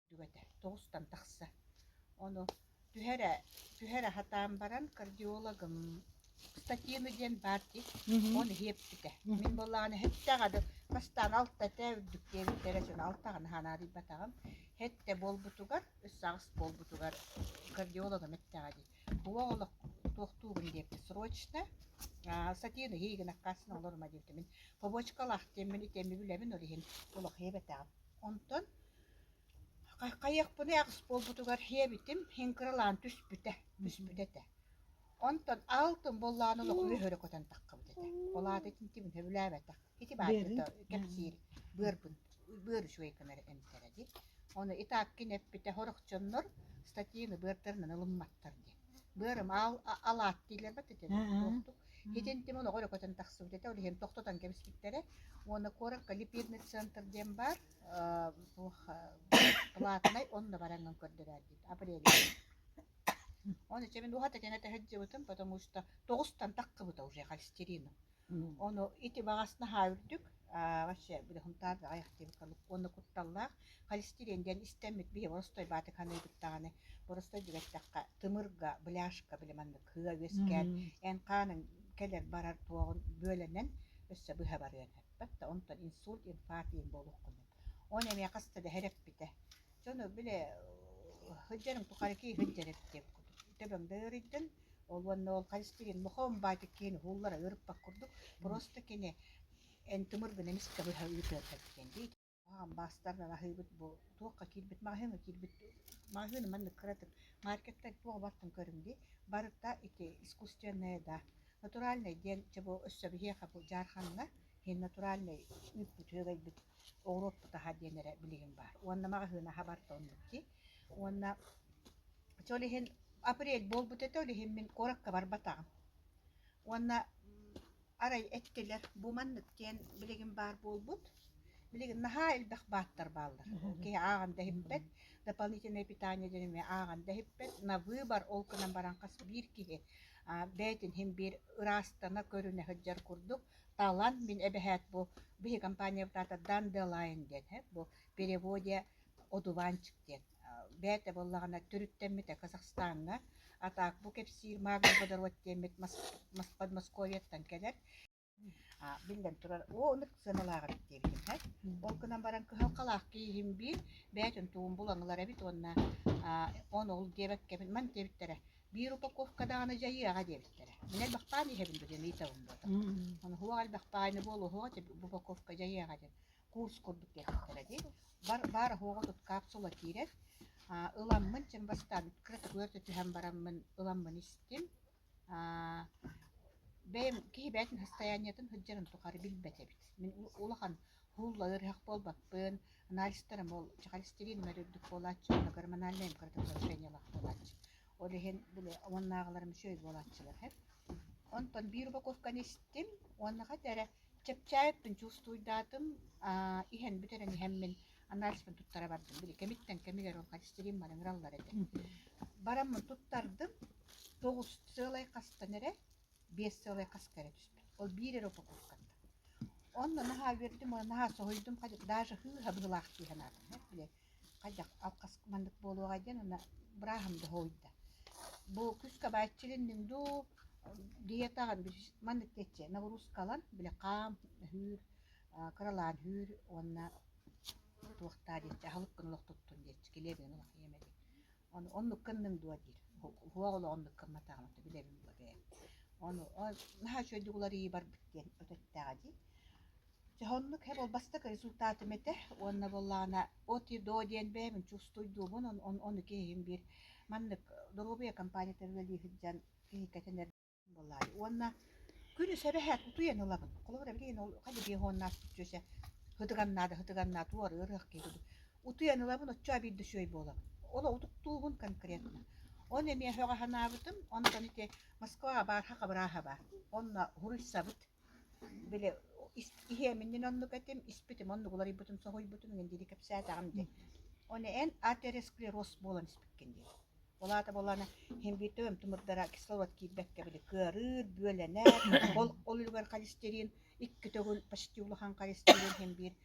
Дүгэтэ тоҕустан тахса. Ону түһэ эрэ түһэ эрэ сатаан баран кардиологым статьену диэн баар дии. Мгм. Ону иһиэппитэ. Мгм. Мин былаан эттэҕэ да бастаан алта этэ үрдүк диэбит эрэ дьон алтаҕын аһа наадыйбатаҕым. Этэ буолбутугар, өс аҕыс буолбутугар кардиологым эттэҕэ дии. Уол туохтуугун диэки срочно сатену иһи гынахха астына олорума диэбитимин побочкалаах диэммин итиэмми билэбин ол иһин улахыйабатаҕым онтон хайыахпыный аҕыс буолбутугар эбитим иһин кыралаан түспүтэ түспүтэ этэ онтон алтын буоллаҕына олох үһөрө көтөн таххабыт этэ ол аата итинтибин сөбүлээбэтэх Ити баайбыта кэпсиир быарбын быар үчүгэйкэнэр эмтэрэ ди. Ону итааккин эппитэ хорохчоннор статьяны быартарынан ылымматтар ди. Быарым аал алаат диилэрбэт этэ туохтук. Итин тим олоҕор көтөн тахсыбыт этэ, ол иһин тохтотон кэбиспиттэрэ. Уонна куоракка липидный центр диэн баар платнай онно бараҥҥын көрдөрөөр диит апрель Оны чэмин уһата кэнэ тэһэрдьибутум, потому что тоҕустан таккыбыта уже холестерином. Ону ити маҕас наһаа үрдүк, аа вообще бырыһымтаат аҕыйах диэбит курдук уонна кутталлаах. Холестерин диэн истэммит биһи боростой баатык ханыыбыт даҕаны, боростой дигэттэххэ тымырга, быляшка били маннык кыа үөскээн, эн хааныҥ кэлэр-барар туоҕун бүөлэнэн өссө быһа барыан сөп. Да онтон инсульт, инфаркт диэн буолуоххунун. Ону эмиэ хаста да сэрэппитэ. Дьону били сылдьарым тухары киһи сылдьар эбит диэбит курдук. Төбөм да ыарыйдын, Ол уонна ол харыстыгин мохоом баатик киһин уһууллара ыырыппат курдук просто кини эн тымыр гына эмис кыбыһа ыытыарбат диэн дии хамбаастар аһыыбыт бу туохха киирбит маҕаһыыҥҥа киирбит маҕаһыыны маннык кыратык маркеттар туох бартын көрүҥ дии барыта ити искусственное да натуральное диэн чебу өссө биһиэхэ бу дьаарханна иһин натуральный ыыппыт үөгэйбит оҕуруоппут аһа диэн эрэ билигин баар уонна маҕаһыын аһа барта оннук дии Уонна чэ ол иһин апрель буолбут этэ, ол иһин мин куоракка барбатаҕым. Уонна арай эттилэр бу маннык диэн билигин баар буолбут. Билигин наһаа элбэх бааттар бааллар. Киһи ааҕан да иһиппэт, дополнительное питание диэн эмиэ ааҕан да иһиппэт. На выбор ол гынан баран хас биир киһи аа, бэйэтин иһин биир ыраастана көрүнэ сылдьар курдук талан мин эбэһээт бу биһи компаниябытаатар Дан де Лайен диэн бу переводе одуванчик диэн бэйэтэ буоллаҕына төрүттэммитэ казахстаҥҥа атаак бу кэпсиир магний водород диэммит московияттан кэлэр биллэн турар о ынык сыаналаах эбит диэбитим һэ ол гынан баран кыһалҕалаах кииһим биир бэйэтин тугун булан ылар эбит уонна он ол диэбэккэбин ман диэбиттэрэ биир упаковка даҕаны дьайыаҕа диэбиттэрэ мин элбэхпээн иһэбин бу диэн ыйытабын буотам ону һуох элбэх баайны буол уһуох упаковка дьайыаҕа диэн курс курдук диэтэхтэрэ дии бар баар оһуоҕа кыткаап суола киирэр ыламмын чим бастаан кыратыгар да түһэн бараммын ыламмын истим бэйэм киһи бэйэтин расстояниетын сылдьарын тухары билбэт эбит мин улахан һуулла ыарыһах буолбаппын анализтарым ол чэхэлистирииным үрдүк буолааччы уонна гормональнай им кыратык улучшениялаах буолааччы ол иһин били омуннааҕыларым үчүгэй буолааччылар оттон биир упаковканы истим уонна хата эрэ чэпчээппин чувствуйдаатым иһэн бүтэрэн иһэммин анализпын туттара бардым били кэмиттэн кэмигэр ол холестерин маныңыраллар этэ бараммын туттардым тоҕус сыалай хастан эрэ биэс сыалай хаска эрэ түспүт ол биир эрэ упаковкаттан онно наһаа үөрдүм наһаа соһуйдум даже һыы һабыылаах дии санаатым били Хайдах алҕас маннык буолуоҕай диэн уонна бырааһым да соһуйда. Бу күүскэ бааччылынныҥ дуу, диетаҕын маннык диэччи нагрузкалан били хаам өһүүр, кыралаан үүр уонна туохтаа диэччи аһылык гына олохтоттун диэччи килиэп гына олох ийэм этэ оннук гынныҥ дуо диир суох олох оннук гымматаҕым ты билэбин дуо бэйэм ону наһаа үчүгэйдик уларыйыы барбыт диэн өтөттөҕө дии дьэ оннук һэ бастакы результатым этэ уонна буоллаҕына от и до диэн бэйэбин чувствуйдуубун ону киһим биир маннык доруобуйа компаниятыгар үлэлии сылдьан киһи кэтэнэр Буолаай. Уонна күнүс эбэһээт утуйан ылабын. Холобур, эбигин ол халибиһоннаат дьүөсэ хытыганнаат, хытыганнаат туора ырыах киһи утуйан ылабын, оччо биирдэ үчүгэй буолабын. Оло утуктуубун конкретно. Ону эмиэ өҕө санаабытым. Онтон ити Москваҕа баар хахабырааһа баар. Онно уруйсабыт. Били иһиэминньин оннук этим, испитим оннук уларыйбытын соһуйбутум, инэн диэри кэпсээтэҕим дии. Ону эн атеросклероз буолан испиккин дии. Ол аата буоллаҕына химвитоем тымырдара кислород киирбэккэ били кыарыыр, бүөлэнэр, ол ол үлүгэр холестерин, икки төгүл почти улахан холестерин химвит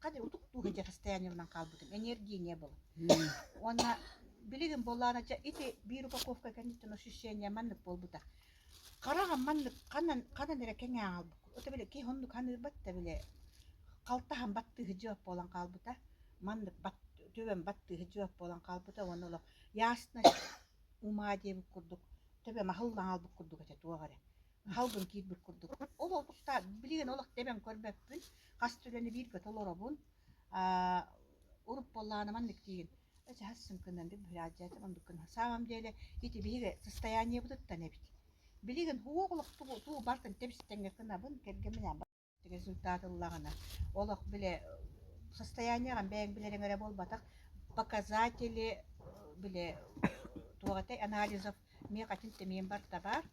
Хадьа утук тууга дьэхэстээнилинэн хаалбытым. Энергийнее было. Уонна билигин буоллаана дьэ ити биир упаковка кэнниттэн ощущение маннык буолбута. Хараҕым маннык ханан ханан эрэ кэҥээн хаалбыт. Ото били киһи оннук ханыырбат да били халтаһан баттыһы дьыап буолан хаалбыта. Маннык бат төбөм баттыһы дьыап буолан хаалбыта уонна олох ясно умаа диэбит курдук төбөм аһыллан хаалбыт курдук этэ туох эрэ. Халбын киирбит курдук. Ол охта билигин олох тэбэн көрбөппүн. Хас үлэни биир көтө олоробун. Аа, урут буоллаҕына маннык диигин. Эдьэҕэс сөҥкөнөн бит быһыраадьдьаатым оннук гынна. Саамам диэли ити биһиги состояниебытыттан эбит. Билигин уох олох тугу тугу барытын тэбистэн гынабын, кэргэмминээн результат ыллаҕына олох бile состояние аҕам бэйэҥ билэриҥ эрэ буолбатах показатели бile туох этэй анализов миэхэ атын тимиим барта баар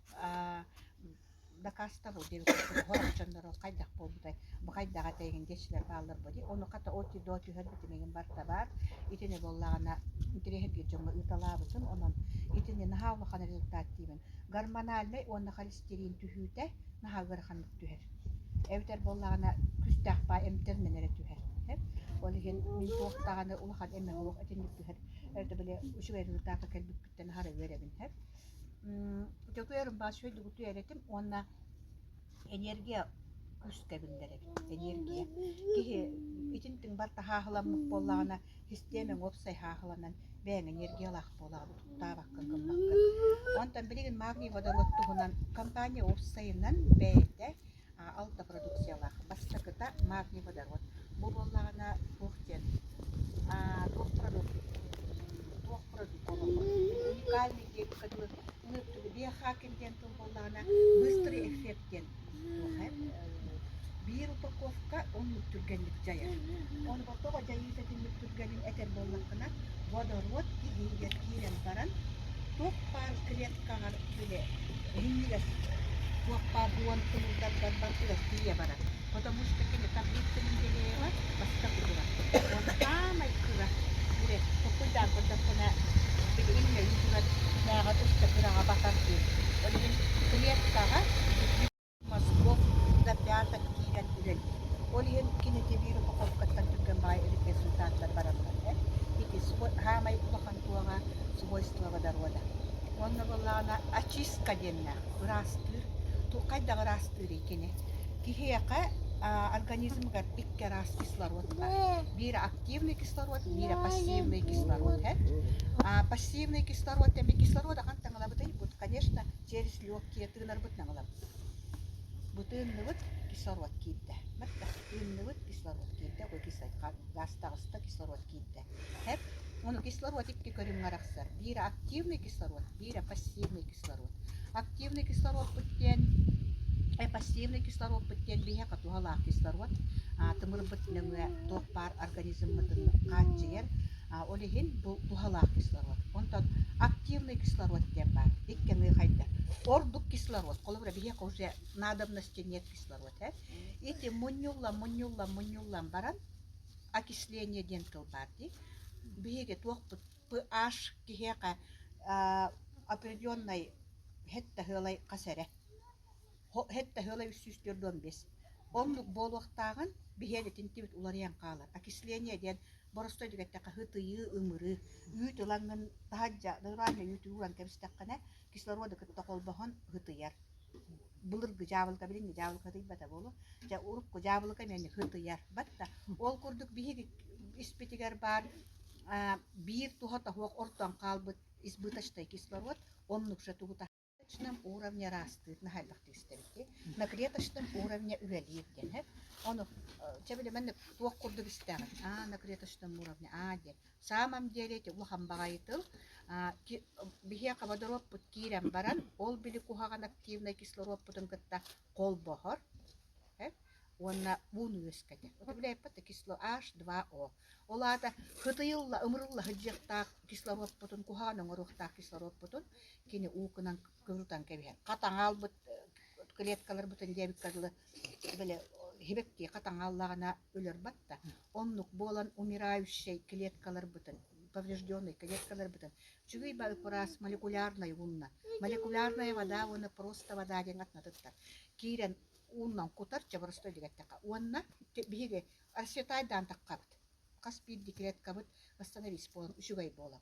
докастовал диэн хорук дьоннору хайдах буолбутай бу хайдах этэйгин диэччилэр баалларбо дии ону хата оти до түһэрбит имигин барта баар итини буоллаҕына интэриэһиргиир дьоҥҥо ыыталаабытым онон итини наһаа улахан результат диибин гормональнай уонна холестерин түһүүтэ наһаа ыарахан түһэр. Эбэтэр буоллаҕына күүстээх баай эмтэринэн эрэ түһэр. Ол иһин мин туох даҕаны улахан эмэҕи суох итинник түһэр это били үчүгэй дьылытаакка кэлбиккиттэн аһара үөрэбин иһэр. Дьөгүөрүм баас үчүгэйдик эрэ этим уонна энергия күүскэ биллэр эбит. Энергия. Киһи итинтиҥ бар таһааһыламмыт буоллаҕына Истиэмэҥ уопсай һааһыланан бэйэҥ энергиялаах буолаҕын куттаабаккын гыммаккын. Онтон билигин магний-водолот туһунан компания уопсайынан бэйэтэ алта продукциялаах. Бастакыта магний-водород. Бу буоллаҕына туох диэн туох продукт туох продукт олоҕор уникальный диэбиккэ дылы биохакер диэн тыл буоллаҕына быстрый эффект диэн туоха биир упаковка оннук түргэнник дьайар ону тоҕо дьайыыта итинник түргэнин этэр буоллаххына водород иһиигэр киирэн баран туох баар клеткаҕар били иһиҥҥигэр туох баар дуон тымырдаргар барытыгар тиийэ барар потому что кини таблицаны неделяева бастак утура. Он саамай кыра үрэс куккуйдаан көрдөххүнэ иннэ үтүгэр мээҕэр өссө кыраҕа батар диэн. Ол иһин клеткаҕа мозгов ребята киирэн үлэлиир. Ол иһин кинити биир упаковкаттан түргэн баҕайы эбит результаттар бараллар ээ. Ити саамай улахан туоҕа свойствоводорода. Уонна буоллаҕына очистка диэннээх ыраастыыр. Хайдах ыраастыырый кини? Киһиэхэ организмыгар икки араас кислород бар. Биирэ активный кислород, биирэ пассивный кислород һэт. Пассивный кислород эмиэ кислород ахан таҥалабытай бут, конечно, через легкие тыынарбыт наҥалабыт. Бу тыынныбыт кислород киирдэ. Мэтта тыынныбыт кислород киирдэ, ой кисай гаас таҕыста кислород киирдэ. ХЭП ону кислородикки көрүҥҥэ арахсар. Биирэ активный кислород, биирэ пассивный кислород. Активный кислородпут диэн э, пассивный кислородпут диэн биһиэхэ туһалаах кислород. А, тымырбыт нөҥүө туох баар организммытын хааччыйар. А, ол иһин бу туһалаах кислород. Онтон активный кислород диэн баар. Иккиэни хайда. Ордук кислород. Холобура, биһиэхэ уже надобности нет кислорода. Ити мунньуллан, мунньуллан, мунньуллан баран окисление диэн тыл баар дии. Биһиги туохпут pH киһиэхэ определенной хэт таһыалай хас эрэ хэт таһыалай үс сүүс төрт уон бес оннук буолуохтааҕын биһиэн итинтибит уларыйан хаалар окисление диэн боростой түгэттэ хаһытыйыы ымырыы үүт ылаҥын таһаджа нормально үүт ууган кэбистэххинэ кислороды кытта холбоһон хытыйар былыргы дьаабылыка билиҥҥи дьаабылыка тыйбата буолуо дьэ урукку дьаабылыка эмиэ кытыйарбат да ол курдук биһиги испитигэр баар биир туһата оһуох ортон хаалбыт избыточный кислород оннук же тугута клеточном уровне ыраастыыр наһайдахтык истэбит дии на клеточном уровне үлэлиир диэн ону чэ били маннык туох курдук истэҕин а на клеточном уровне а диэн Саамам диэри ити улахан баҕайы тыл. Биһиэхэ водоруоппут киирэн баран, ол били куһаҕан активнай кислоруоппутун кытта холбоһор уонна уун үөскэтэр. Управляйппыт кисло H2O. Ол аата кытыйылла, ымырылла сылдьыахтаах кислоруоппутун, куһаҕан оҥоруохтаах кислоруоппутун кини уукунан кыһынтан кэбиһэн хатаҥ аалбыт клеткаларбытын диэбиккэ дылы били иһибэктии хатаҥ ааллаҕына өлөр батта оннук буолан умирающай клеткаларбытын поврежденный клеткаларбытын үчүгэй ба ыкпыраас молекулярнай уунна молекулярная вода уонна просто вода диэн атнатыттар киирэн ууннан кутар чабыростой дегэттэхэ уонна биһиги асетайдаан таххабыт хас биирдии клеткабыт восстановись буолан үчүгэй буолан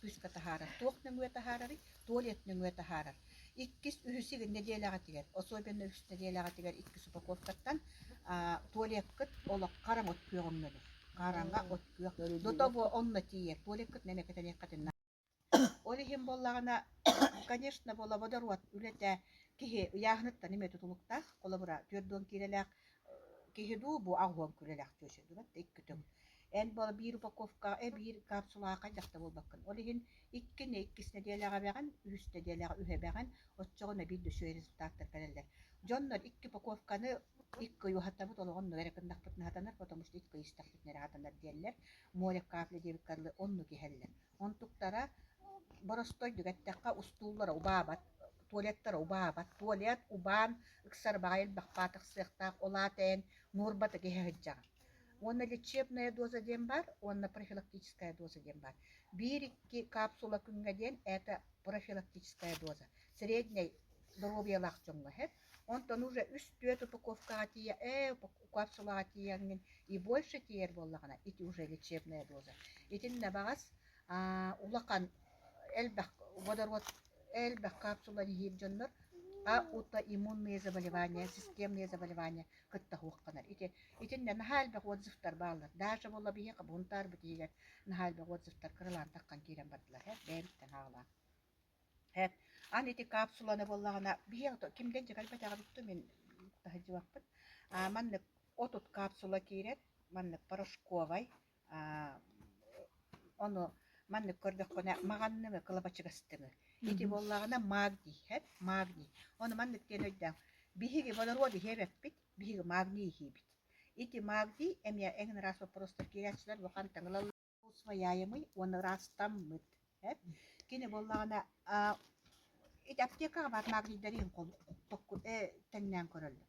Кыыска таһаарар туох нөҥүө таһаарарый, туалет нөҥүө таһаарар. Иккис, үһүс игин нэдиэлэҕитигэр, особенно үһүс нэдиэлэҕитигэр иккис упаковкаттан а, туалеткыт олоххо араҥ от күөҕүн мөлүх. Хараҥа от күөх. До того онно тиийэр. Туалеткыт нэмэ кэтэниэххитин Ол иһин буоллаҕына, конечно, буола водород үлэтэ киһи ыйааһыныттан эмиэ тутулуктаах. Холобура, түөрт дуон киилэлээх киһи дуу, бу аҕыһыан күрэлээх түөсү дурат иккитин Эн биир упаковка, э, биир капсулаҕа хайдах да буолбаккын. Ол иһин иккини, иккис нэдиэлэҕэ эбэҕин, үһүс нэдиэлэҕэ үһэбэҕин, оччоҕуна биир да үчүгэй результаттар кэлэллэр. Дьоннор икки упаковканы икки ый уһаттарбыт олоҕун нуро эрэ гыннахпытына сатанар, потому что икки ый истэхпитинэ эрэ сатанар диэллэр. Моря капли диэбит кырылы оннук иһэллэр. Онтуктара боростой эттэххэ устууллара убаабат, туалеттара убаабат. Туалет убаан, ыксар баҕайы элбэх паатах сыахтаах, ол аата эн нуурбатык иһэ сылдьаҕын. Уонна лечебная доза диэн баар уонна профилактическая доза диэн баар. Биир-икки капсула күҥҥэ диэн это профилактическая доза. Среднэй доруобуйалаах дьоҥҥо эһэр. Онтон уже үс-түөрт упаковкаҕа тиийэ, ээ, капсулаҕа тиийэҥҥин и больше тиийэр буоллаҕына, ити уже лечебная доза. Итиннэ баҕас аа, улахан элбэх водород элбэх капсула иһиир дьоннор а аутоиммунные заболевания, системные заболевания кытта хуохханар ити итиннэ наһаа элбэх отзывтар бааллар даша буолла биһиэхэ бунтаарбыт иһигэр наһаа элбэх отзывтар кырылаан таххан киирэн бардылар һэп бэйэбиттэн хаалаан һэп аны ити капсуланы буоллаҕына биһиэхэ кимдэн дьэгэлбэтэҕэбит ту мин таһыдьыбаппыт маннык отут капсула киирэр маннык порошковай Ону маннык көрдөххүнэ маҕанныҥы, кылабачыгастыҥы. Ити буоллаҕына магнийһэт, магний. Ону маннык диэн өйдөөҥ. Биһиги водороды иһэбэппит, биһиги магний иһиибит. Ити магний эмиэ эҥин ыраас боппуруостар киириэччилэр бу хантан ылаллар усвояемый уонна ыраастаммыт. Кини буоллаҕына ити аптекаҕа баар магнийдары иһин тэҥнээн көрөллөр.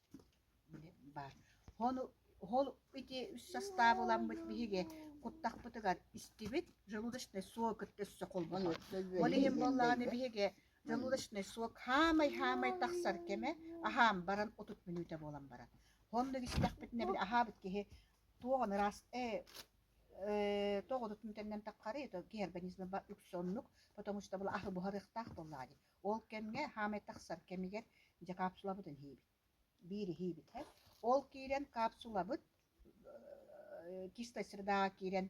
баар ону ол ити үс састаап ыламмыт биһиги куттахпытыгар истибит желудочный сок өттөссө холбонор ол иһин буоллаҕына биһиги желудочный сок хаамай хаамай тахсар кэмэ аһаан баран отут мүнүүтэ буолан баран онно истэхпитинэ били аһаабыт киһи туох аны ыраас э э тоҕо отут мүнүүтэнэн тапхарый то гиарбонизма үксэ оннук потому что была аһы буһарыахтаах буоллаҕа дии Ол кэмҥэ хаамай тахсар кэмигэр дьэ капсулабытын иһиибит. Биир иһиибит иһэр. Ол киирэн капсулабыт э, чистая средаҕа киирэн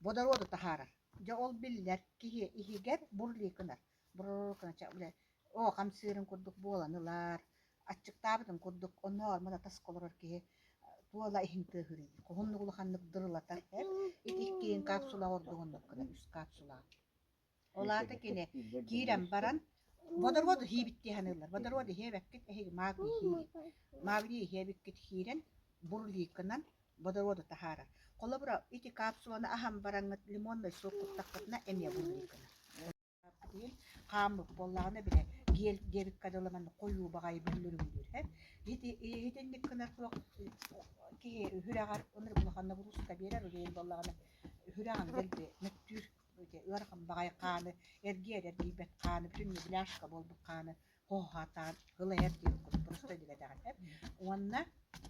водороду таһаарар. Дьэ ол биллэр киһи иһигэр бурлей гынар. Бурррр гына ча- бля, О, хамсыырын курдук буолан ылар. Аччыктаабытын курдук онноор мына тасха олорор киһи э, туола иһин тыаһыырын. Уһуннук улаханнык дырылатар. эр. Ити иккиин капсула ордук оннук гына үс капсула. Ол аата кини киирэн баран водороду иһиибит дии саныыллар. Водороду иһиэбэккит, эһиги маабыны иһиибит. Маабыны иһиэбиккит иһиирэн, бурликынан водороду таһаарар. Холобура, ити капсуланы аһан бараҥҥыт лимоннай суох куттаххытына эмиэ бурликынан. хааммыт буоллаҕына бile гиэл диэбиккэ дылы манна хойуу баҕайы бөллөрүҥдүүр һэт ити иһитинник гынар суох киһи үһүрэҕэр ыныр улаханна бурууска биэрэр үлэйин буоллаҕына үһүрэҕин дэлби мөттүүр ыарахан баҕайы хааны эргийэр эргийбэт хааны бүтүн мебеляшка буолбут хааны хоһаатаан ылайар диир курдук простой диэбэтэҕинэ уонна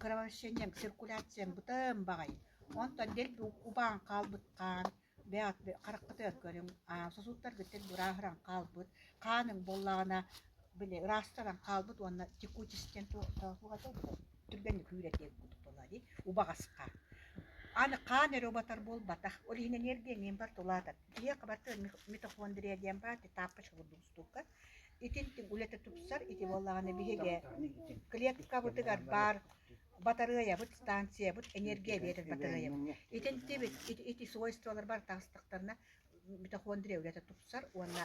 кровосечением циркуляциям бытым баҕайы онтон дэлби убаан хаалбыт хаан бэйэҕит хараххытыгар көрүҥ сосудтаргыттан бырааһыран хаалбыт хааныҥ буоллаҕына били ыраастанан хаалбыт уонна текучесть диэн туох этэ түргэнник үүрэтиэх курдук буолуо дии убаҕасха аны хаан эрэ убатар буолбатах ол иһин энергиэниэм тулаатар киһиэхэ барта митохондрия диэн баар тапочка курдук устуука итинтин үлэтэ тупсар ити буоллаҕына биһиги клеткабытыгар баар батарыайабыт станциябыт энергия биэрэр батарыайабыт итинтибит ити свойстволар бар таастахтарына митохондрия үлэтэ тупсар уонна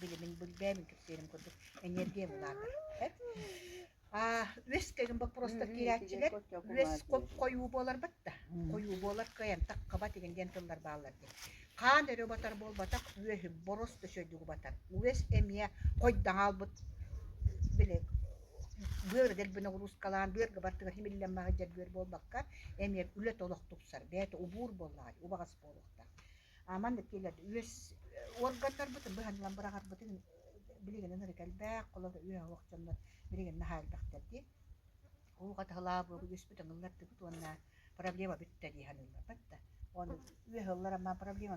билимин билбээмин кэпсиэрим курдук энергия улаатар үс кэлин боппуруостар киирээччилэр үс хойуу буоларбыт да хойуу буолар кыайан таххаба тигин диэн тыллар бааллар диэн хаан өрө батар буолбатах үөһү борос төсөйдүгү батар үөс эмиэ хойдаҥа албыт били быар дэлбинэ уруускалаан быарга бартыгар химиллэммэҕи дьэрбүөр буолбакка эмиэ үлэ толох тупсар бэйэтэ убуур буоллаҕай убаҕас буолуохтаах маннык киэлэрди үөс органнарбытын быһанынан быраҕарбытын билигинин ырык элбэх холор үөһуох дьоннор билигин наһаа элбэхтэр дии уу хатыһылаа буолбу үөспүт ыллардыбыт уонна проблема бүттэ дии саныылларбыт да он үөһ ыллара маа проблема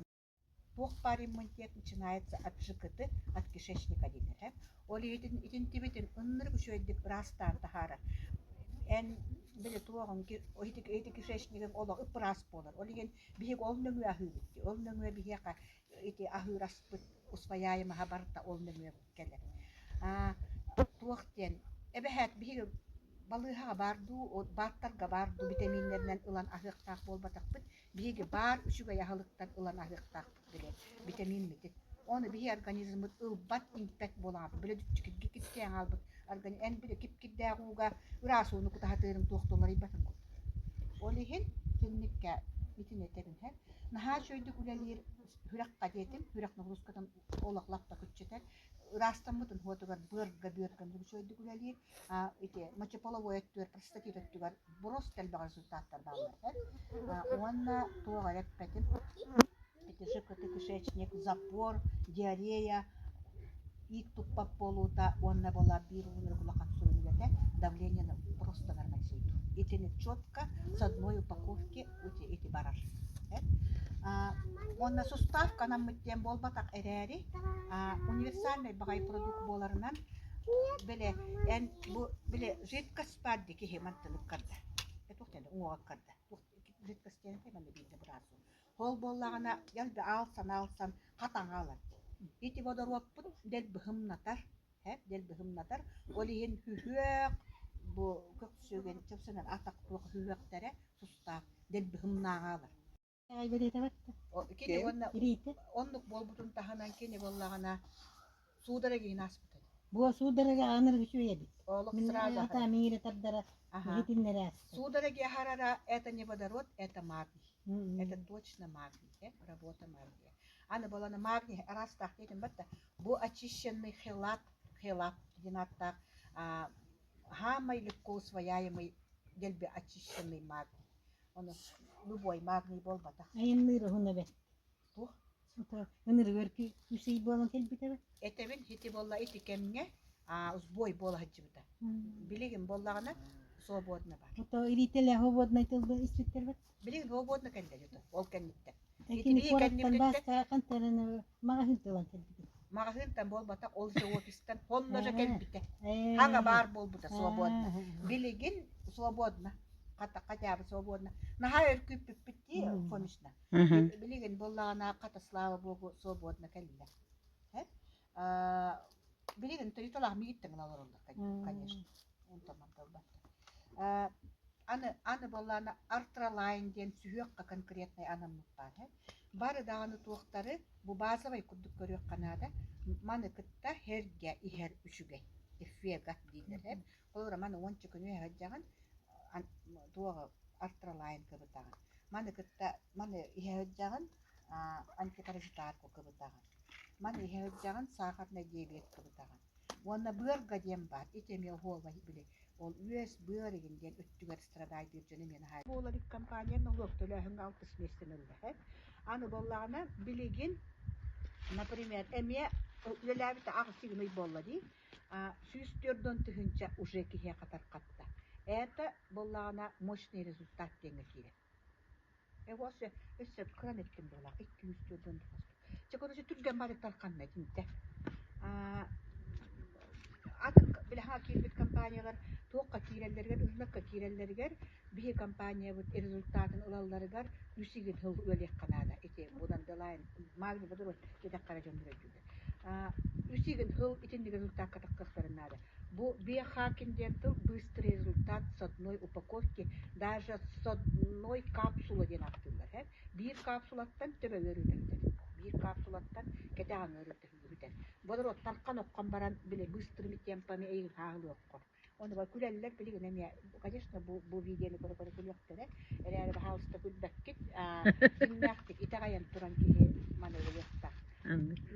туох баар иммунитет начинается от жкты от кишечника диэн этэ ол иһитин итинтибитин ыннырык үчүөйдүк ыраастаан таһаарар эн били туоҕуҥ ити кишечнигиҥ олох ыппыраас буолар ол иһин Биһиги ол нөҥүө аһыыбыт дии, ол нөҥүө биһиэхэ ити аһыыр аспыт усвояемый аһа барыта ол нөҥүө кэлэр. Аа, туох диэн, эбэһээт биһиги балыыһаҕа баар дуу, бааттарга баар дуу витаминнэринэн ылан аһыахтаах буолбатахпыт, биһиги баар үчүгэй аһылыктан ылан аһыахтаахпыт. Билэ, битэмиин митик. Ону биһи организммыт ылбат, импэт буолаабыт, били дьикиргик кистээн хаалбыт организм эн били кип-кирдээх ууга ыраас ууну кутаһатыырын туохтан уларыйбатын курдук. Ол иһин кинниккэ итини этэрим иһин, наһаа үчүгэйдик үлэлиир күрэххэ диэтим, күрэх нагрузкатын олох лаппа күччэтэр. Ыраастаммытын уотугар быарга-бүөргэ үчүгэйдик үлэлиир. ити мочеполовой өттүгэр простатит өттүгэр брост элбэх результаттар бааллар этэ уонна туох эрэ эппэтим кишечник запор диарея иик туппат буолуута уонна была биир уларык улахан сүрүнүгэтэ давление простанарынан сүйдү итини четко с одной упаковки эти, эти барар уонна суставка наммыт диэн буолбатах эрээри универсальный баҕай продукт буоларынан Били эн бу били жидкость баар дии киһи мантан ыккарда туохтан уҥуоҕуккарда жидкость диэн этэй манна биирдэ быраасым ол буоллаҕына дэлби аалсан аалсан хатаҥа ылар ити бодоруоппут дэлби һымнатар һэ дэлби һымнатар ол иһин күһүөх бу көхсүгүн чып санаан атах туох үһүһүөхтэрэ тустаах дэлби һымнааҕа ылар кини уонна оннук буолбутун таһынан кини буоллаҕына суудара гиһин ааспыт эбит Бу суудaraga aanır үчүгэйбит. Олох сразу. Ата мире тардара. Итиннере. Судороги харара это не водород, это магний. Это точно магний. Работа магния. Аны была на магний раз так этим бата. Бу очищенный хелат, хелат, динаттах хамай легко свояемый, дельби очищенный магний. Ону любой магний буолбатах. Айанныыр уһун эбэн. Туох? Ынырыгар үс ый буолан кэлбит эбэ. Этэбин ити болла ити кэмҥэ а, сбой буола сылдьыбыта. Билигин буоллаҕына свободно бар. Ото иритэлэ свободнай тылды испиттэрбит. Билигин свободно кэллэр ото ол кэнниттэн. Итини кэннибититтэн маҕаһыынтан маҕаһыынтан буолбата ол живописьтан сонно же кэлбитэ хаҥа баар буолбута свободно билигин свободно хотя бы свободно наһаа өркүппүппүт дии конечно билигин буллаҕына хата слава богу свободно кэллэ билигин тойотолаах мигиттен олороллор конечно онтон манталбан аны аны боллаана артралайн диэн сүһүөххэ конкретный анаммыт баар бары даҕаны туохтары бу базовай курдук көрүөххэ наада маны кытта һэргэ иһэр үчүгэй эффегат дииллэр холура маны уонча күнү эһэрдьаҕын туоҕа артралайн кыбытаҕын маны кытта маны иһэрдьаҕын антипаразитарку кыбытаҕын. Маны иһэ сылдьаҕын сахарнай диабет кыбытаҕын. Уонна быарга диэн баар, ити эмиэ оһуола били ол үөс быарыгын диэн өттүгэр страдайдыыр дьону диэн хаайбыт. Буолабыт компания нолуок төлөөһүҥҥэ алтыс миэстэнэ үллэһэр. Аны буоллаҕына, билигин, например, эмиэ үлэлээбитэ аҕыс сигмый буолла дии, сүүс түөрт уон тыһыынча уже киһиэхэ тарҕатта. Это, буоллаҕына, мощный результат диэҥҥэ киирэр. Эһэ өссө кыран эттим буолаах икки үс түөрт ыам тоҕуспут. Чэ короче түргэн барыктар ханна этиҥ те? Аа атын билэҕэ киирбит компаниялар туохха киирэллэригэр, ыһыллыкка киирэллэригэр биһи компаниябыт результатын ылалларыгар үс игин сыл үөлүйэххэ наада ити будандылайн маалыйа бодоруй диэтэххэ эрэ дьон бүрэйдүүллэр. Аа үс игин сыл итинник результакка тахсыахтарын наада. Бу биохакинге тыл быстрый результат содной упаковки даже содной капсула диэн ааттыыллар һэ биир капсулаттан төбөлөр үрүтэллэр биир капсулаттан кэтэҕиҥҥэ үрүтэллэр бодоруоттан хан оккон баран били быстрыми темпами ыйыһаалыаххо онуоха күлэллэр билигин эмиэ конечно бу бу видеоны көрө-көрө күлүөхтэрэ эрээри баһаалыста күлбэккит дьиҥнээхтик итэҕэйэн туран киһи маны ылыахтаах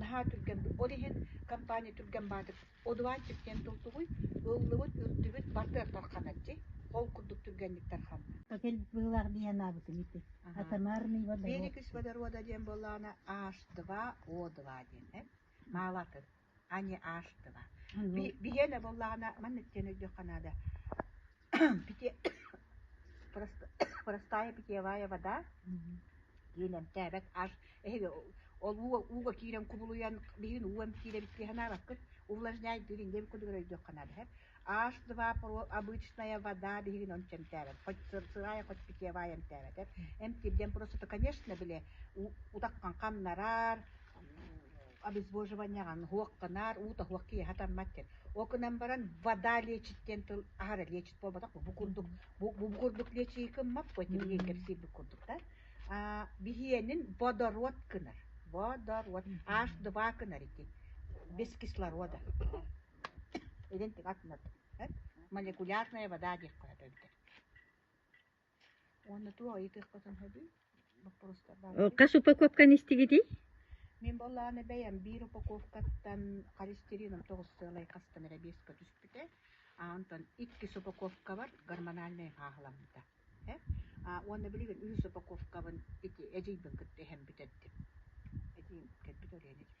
наһаа түргэн ол иһин компания түргэн баатыр Одуван Чиккен тумсугуй, ыллыбыт, үрдүбүт бардыахтар ханаччы, ол курдук түргэнниктэр ханна? Отель быылаах дии санаабытым ити. Атамарный водород. Великис водорода диэн буоллаҕына H2O2 диэн ээ. Маалатын. Ани H2. Биһиэнэ буоллаҕына маннык диэн өйдүөххэ наада. простая питьевая вода диэн эмтээбэт аж эһиги ол ууга ууга киирэн кубулуйан биһигин уу эмтиирэбит дии санаабаккыт увлажняет дырин диэн курдук өйдүөххэ наада эһэр аш два обычная вода биһигин ончу эмтээбэт хоть сырсыраая хоть питьевая эмтээбэт эмтиирдэн просто конечно били утаххан хамнарар обезвоживаниеҕа һуохха наар уу тоһуох киэһэ таммат диэн ол гынан баран вода лечит диэн тыл аһара лечит буолбатах бу курдук бу, бу курдук лечии кыммаппыт тимирийин кэпсиирбит курдук да биһиэнин водород гынар водород аш два гынар ити без кислорода идентик атынат молекулярная вода диэх хоһото эбитэр хас упаковканы истигитий мин буоллаҕына бэйэм биир упаковкаттан холестерином тоҕустуолай хастан эрэ биэскэ түспүтэ онтон иккис упаковкабар гормональнай хааһыламмыта уонна билигин үһүс упаковкабын ити эдьиийбин кытта иһэн бүтэрдим эдьиийим кэлбит оройуон эдьиийбин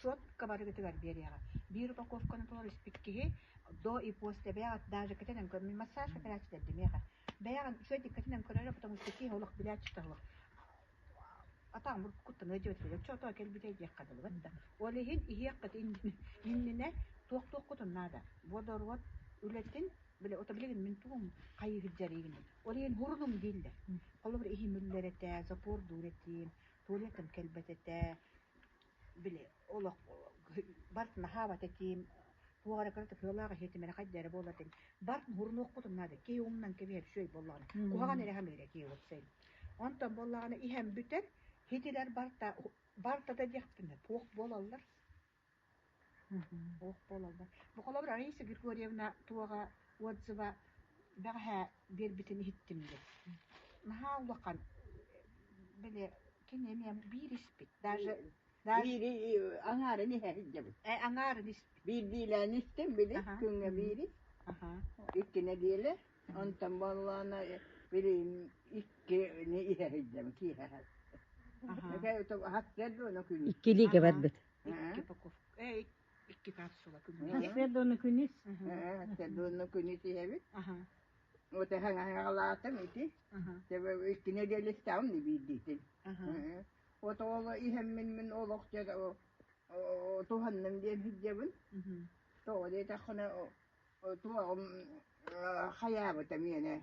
Суопка барыгытыгар биэриэҕэ. Биир упаковканы толору испит киһи до и после бэйэҕит даже кэтэнэн көрмүн массаж операциятыгар дэмиэҕэ. Бэйэҕин үчүгэйдик кэтэнэн көрөрө, потому что киһи олох билээччитэ суох. Атаан буркуттан өйдөөтүлэр, оччотоо кэлбитэ диэххэ дылы да. Ол иһин иһиэххит иннинэ туох-туохкутун наада. Водород үлэтин бile ото билигин мин тугум хайыы сылдьарыгын ол иһин хурунум дииллэр. Холобур иһим үллэр этэ, запор дуур этим, туалетым кэлбэт этэ, били олох барыт наһаа абата этиим, туох эрэ кыра тыһыылаах иһи тимирхай да эрэ буолар этим. Барыт муһурунуохпутун наада, киһи уҥунан кэбиһэр үчүгэй буоллаҕына. Куһаҕан эрэ иһэ миэрэ киһи ылыпсайым. Онтон буоллаҕына иһэн бүтэр, иһитигэр барыта барыта да диэхпитинэ туох буолаллар Олох буолаллар. Буколобр Раиса Григорьевна туоҕа отзыва бэҕэһээ биэрбитин иһиттим дии. Наһаа улахан. Били кини эмиэ биир испит. Даже даже Биир и- аҥаарын иһэ иһдэбит. э, аҥаарын испит. Биирдиилээн истим били Аха. күҥҥэ биири, Аха. иккинэ диэлэ. Онтон буоллаана били иккини иһэ иһдэбит. Киэһэ. Аха. Хатсыар да оны күн. Икки илиигэ барбыт. Икки упаковка, э, икки капсула күммүт. Свердуну күнүс. Свердуну күнүс иһэбит. Вот эһэн аһаҕалаатым ити. Тебе икки неделя ставым не биирдиитин. Вот ол иһэн мин мин олохча туһанным диэн сылдьабын. Тоҕо диэтэххинэ туоҕум хайаабыта миэнэ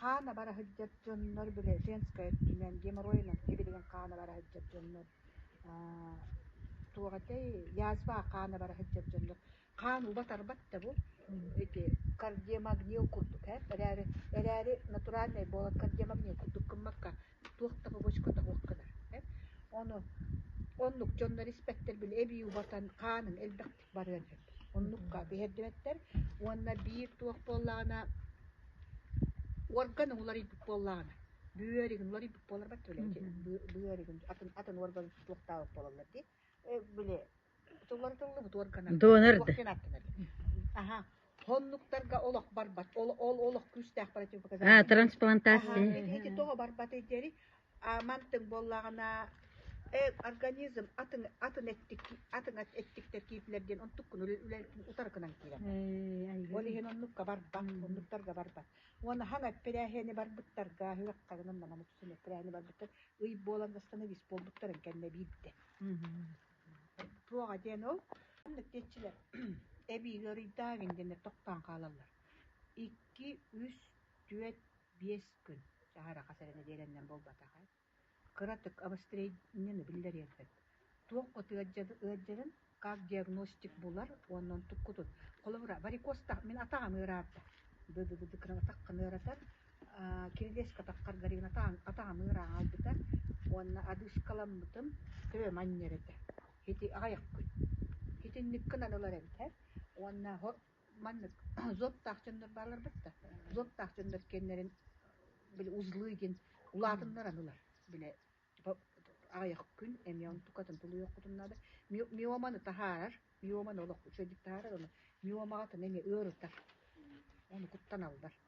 Хаан абара сылдьар дьоннор били женскэй өттүнэн геморройунан сибилигин хаан абара сылдьар дьоннор туох этэй язва хаан абара сылдьар дьоннор хаан уба-тарбат да бу эти кардиомагнил курдук ээ эрээри эрээри натуральнай буолан кардиомагнил курдук гыммакка туох да бобочкота суоххунар ону оннук дьоннор испэттэр били эбии убатан хааныҥ элбэхтик барыан сөп. Оннукка биһэрдибэттэр уонна биир туох буоллаҕына уорган уларыйбыт буоллаҕына бөөригин уларыйбыт буоларбат били бөөригин атын атын уорган туохтаах буолаллар дии били тулларытыллыбыт уорганнар донор да аха Ити тоҕо барбатый диэри мантык буоллаҕына организм атын атын эттик атын эттиктэр киипилэр диэн онтук күн үлэ утары гынан киирэн ол иһин оннукка барбат оннуктарга барбат уонна хаҥ эппирээһиэни барбыттарга үрэххэ гынан манан үксүн эппирээһини барбыттар ый буолан дастаны вис буолбуттарын кэннэ биирдэ Туоҕа диэн ол манна тиэччилэр эбиигэ уруйдаабин диэннэр тохтоон хаалаллар. Икки, үс, түөрт, биэс күн чаһар аҕа сэрэнэ диэрэннэн буолбатах ээ. Кыратык обострениены биллэриэххит. Туох ыалдьарын как диагностик булар уонна онтуккутун холобура варикозтаах мин атаҕым ыараата. Ды-ды-ды кыратах гына ыаратар. Кирилиэс көтөххөр Галинатаан атаҕыныыр ааҕарбыта уонна адыыскаламмытым төбөм анньар этэ. Ити аҕыйахпын. Итинниккин анылар эбитэр уонна оһох маннык зонтаах дьоннор баалларбыт да, зонтаах дьоннор киэннэрин били узлы диэн улаатыннар анылар. Били аҕыйах күн эмиэ онтукатын тулуйуоххутун наада. Мио миоманы таһаарар, миоманы олох үчүгэйдик таһаарар, ону миомаҕытын эмиэ ыарытар. Ону куттаналлар.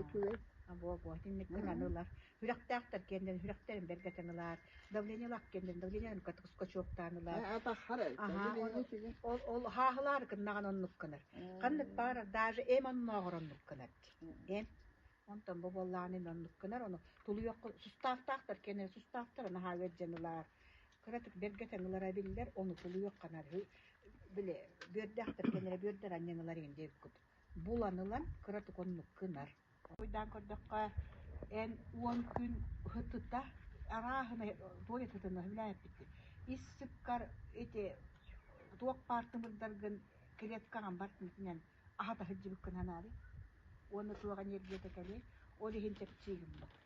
үчүгэй бу инниктэн аны ылар күрэхтээхтэр киэннэрин күрэхтэрин бэргэтэн ылаар давление лак киэннэрин давление скачоктаан ылаар ол хаахылаары кыннаҕан оннук кынар ханнык баар даже эм оннооҕор оннук кынар эм онтон бу буоллаан ин оннук кынар ону тулуйуохха сустаахтаахтар киэннэрин сустаахтар наһаа ыалдьан ылаар кыратык бэргэтэн ылара биллэр ону тулуйуохханар били бүөрдээх киэннэрэ бүөрдэр анньан ылар ин диэбиккут булан ылан кыратыкуннук гынар. Хоруйдаан көрдөххө, эн уон күн ытыта, арааһынай туой ытытына үлээппиккин. Ис сыккар ити туох баар тымырдаргын клетка аҕам барытынтан аһата сылдьыбыккын санаабыт уонна туох энергията кэлиэй, ол иһин чэпчии гыммыт.